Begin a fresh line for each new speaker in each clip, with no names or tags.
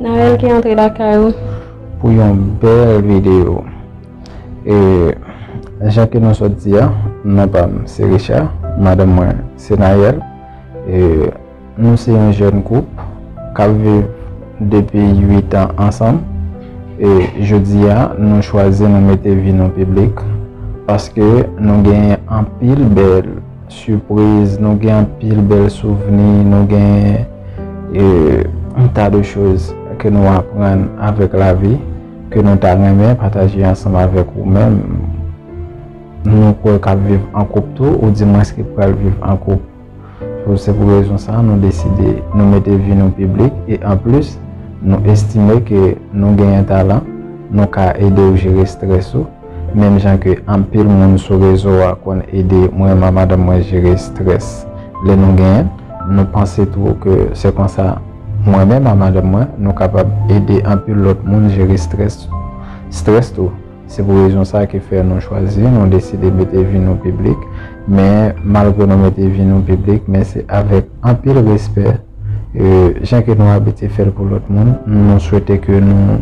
Naël ki
antre lakay ou. Pou yon
bel video. E Jan ke nou sot di a non pam se Richard madanm mwen se Naël e nou se yon jèn koup kap viv depi 8 an ansanm e jodi a nou chwazi nou mete vi nou piblik paske nou genyen anpil bèl Surprise, nou gen anpil bèl souvni, nou gen un tas de choses ke nou aprann avèk lavi, ke nou ta renmen pataje ansanm avèk ou menm, nou kwè kap viv an koup tou, ou di mwens ki pral viv an koup. Se pou rezon sa nou deside nou mete vi nou piblik e an plis nou estime ke nou genyen talan, nou ka ede ou jere strès ou. Menm jan ke anpil moun sou rezo a konn ede mwen ma madanm mwen jere strès lè nou genyen, nou panse tou ke se konsa mwen menm a madanm mwen nou kapab ede anpil lòt moun jere strès strès tou. Se pou rezon sa ki fè nou chwazi, nou deside mete vi nou piblik. Men malgre nou mete vi nou piblik men se avèk anpil respè jan ke nou abitye fèl pou lòt moun. Nou swete ke nou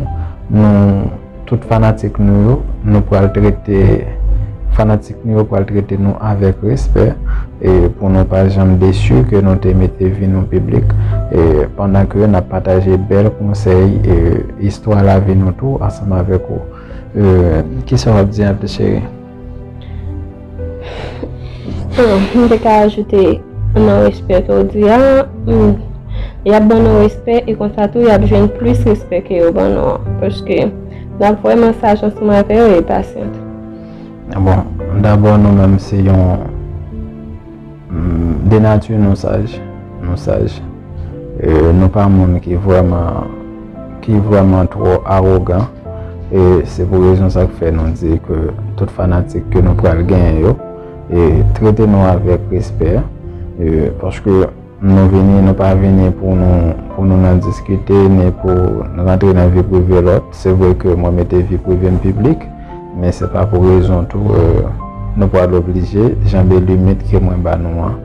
nou. Tout fanatik nou yo, nou pral trete fanatik nou yo pral trete nou avèk respè e pou nou pa janm desu ke nou te mete vi nou piblik e pandan ke nap pataje bèl konsèy e istwa lavi nou tou ansanm avèk ou. Kisa wap di an pi cheri?
Mwen te ka ajoute nan respè ke ou di a, y ap ban nou respè e konsa tou y ap jwenn plis respè ke yo ban nou an. Paske n ap vrèman saj ansanm avè yo e pasyant.
Bon, dabò nou menm se yon De nati nou saj, nou saj. E nou pa moun ki vreman, ki vreman tro arogan. E se pou rezon sa k fè nou di ke tout fanatik ke nou pral genyen yo, e trete nou avèk respè. E paske nou vini, nou pa vini pou nou, pou nou nan diskite, ni pou nou rantre nan vi prive lòt. Se vre ke mwen mete vi prive m piblik. Men se pa pou rezon tou nou pral oblije janbe limit ke mwen ba nou an.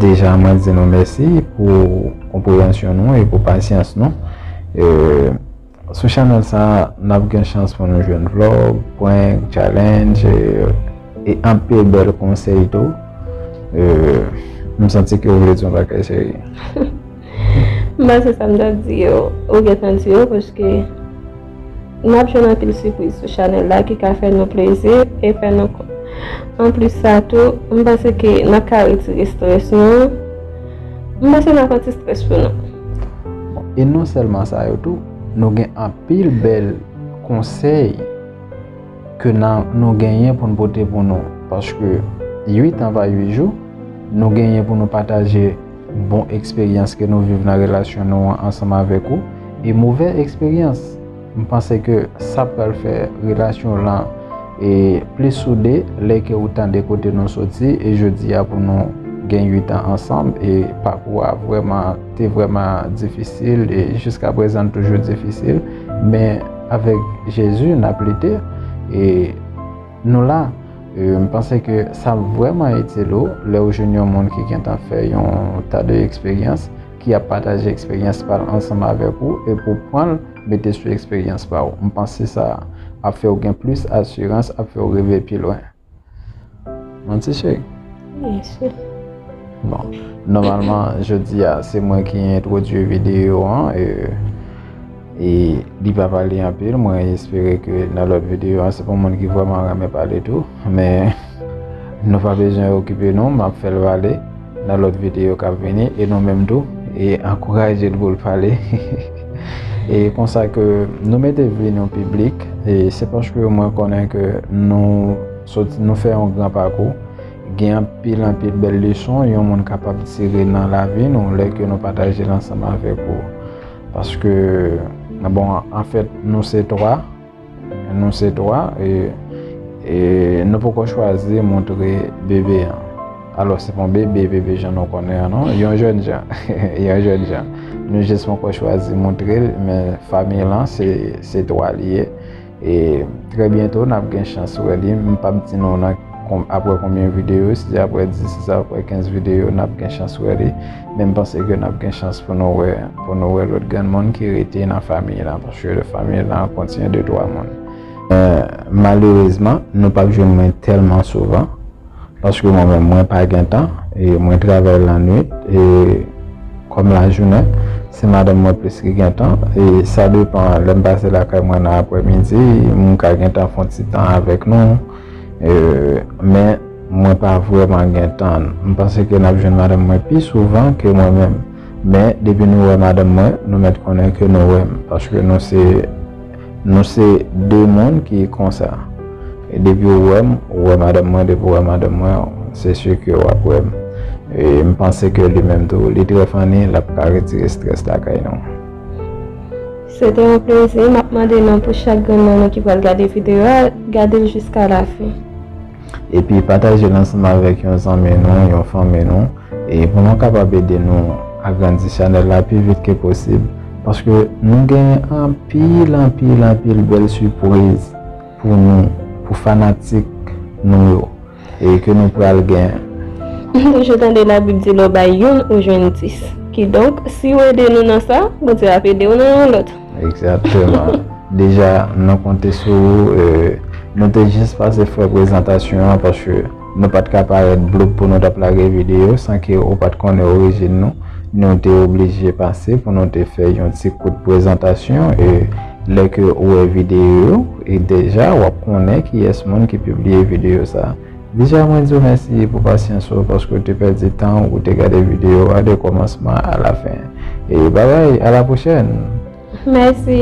Deja mwen di nou mèsi pou konpreyansyon nou e pou pasyans nou. Sou chanèl sa a, n ap gen chans pou nou jwenn vlog, prank, challenge e anpil bèl konsèy tou. M santi ke ou vle di yon bagay cheri.
Mwen se sa m ta di yo, ou gentan di yo paske n ap jwenn anpil sipriz sou chanèl la ki ka fè nou plezi e fè nou kontan. Anplis sa tou, m panse ke n ap ka retire strès nou. M panse n ap anti strès pou nou. E
non sèlman sa yo tou, nou gen anpil bèl konsèy ke nou genyen pou n pote pou nou. Paske 8 an pa 8 jou, nou genyen pou nou pataje. Bon eksperyans ke nou viv nan relasyon nou an ansanm avèk ou e movè eksperyans. M panse ke sa pral fè relasyon w lan e plis soude lè ke ou tande kote nou soti e jodi a pou nou gen 8 an ansanm e pakou a vrèman te vrèman difisil e jiska prezan l toujou difisil men avèk Jezi n ap lite e Nou la, m panse ke sa ap vrèman itil ou lè ou jwenn yon moun ki gentan fè yon ta de eksperyans ki ap pataje eksperyans pa l ansanm avèk ou epi w pran l mete sou eksperyans pa w. M panse sa ap fè w gen plis asirans, ap fè w rive pi lwen. Non ti cheri? Wi
cheri. Bon,
nòmalman jodi a se mwen ki entwodui videyo an. E li pa pale anpil mwen espere ke nan lòt videyo an se pou moun ki vwèman renmen pale tou men nou pa bezwen okipe nou map fèl pale nan lòt videyo kap vini e nou menm tou e ankouraje l pou l pale e konsa ke nou mete vi nou piblik e se paske mwen konnen ke nou soti nou fè yon gran pakou gen anpil anpil bèl leson yon moun kapab tire nan lavi nou lè ke nou pataje l ansanm avèk ou. Paske, nan bon, an fèt, nou se 3, nou se 3, e, e, nou poko chwazi montre bebe an. Alò, se pon bebe, bebe jan nou konnen an non, yon jèn jan, yon jèn jan. Nou jis poko chwazi montre l, men famiy lan se, se 3 li ye. E trè byento nap gen chans wè li, m pap di nou nan aprè konbyen videyo, si se aprè 10, si se aprè 15 videyo nap gen chans wè li, men m panse ke nap gen chans pou nou wè, pou nou wè lòt granmoun ki rete nan famiy lan, paske famiy lan kontinye de 3 moun. Malerezman, nou pap jwenn mwen tèlman souvan. Paske mwen menm mwen pa gen tan e mwen travay lannwit e kòm lajounen se madanm mwen plis ki gen tan e sa depan lèm pase lakay mwen nan aprè midi m ka gen tan fon ti tan avèk nou men mwen pa vrèman gen tan m panse ke nap jwenn madanm mwen pi souvan ke mwen menm men depi nou wè madanm mwen nou mèt konnen ke nou wèm paske nou se Nou se 2 moun ki konsa. E depi ou wèm, ou wè madanm mwen, depi ou wè madanm mwen, se sûr ke wap wèm. E m panse ke li menm tou, li trè funny, lap ka retire stress lakay nou.
Se te yon plezi, map mande non pou chak grenn nan nou ki pral gade video a, gadel jiska la fin. Epi
pataje l ansanm avèk yon zanmi nou, yon fanmi nou. E pou nou kapab ede nou agrandi chanèl la pi vit ke posib. Paske nou genyen anpil, anpil, anpil bèl sipriz pou nou, pou fanatik nou yo. E ke nou pral gen. M toujou tande labib
di lè w bay youn ou jwenn dis. Kidonk, si w ede nou nan sa, Bondye ap ede w nan yon lòt. Exactement.
Deja nan konte sou ou, nou te jis pase fè prezantasyon an paske nou pat ka parèt bloup pou nou tap lage videyo san ke ou pat konnen orijin nou. Nou te oblije pase pou nou te fè yon ti kout prezantasyon e lè ke ou wè videyo yo, e deja wap konnen kiyès moun ki pibliye videyo sa. Bicha mwen diw mèsi pou pasyans ou paske ou te pèdi tan ou pou te gade video a de kòmansman a la fen e babay a la pwochèn. Mèsi.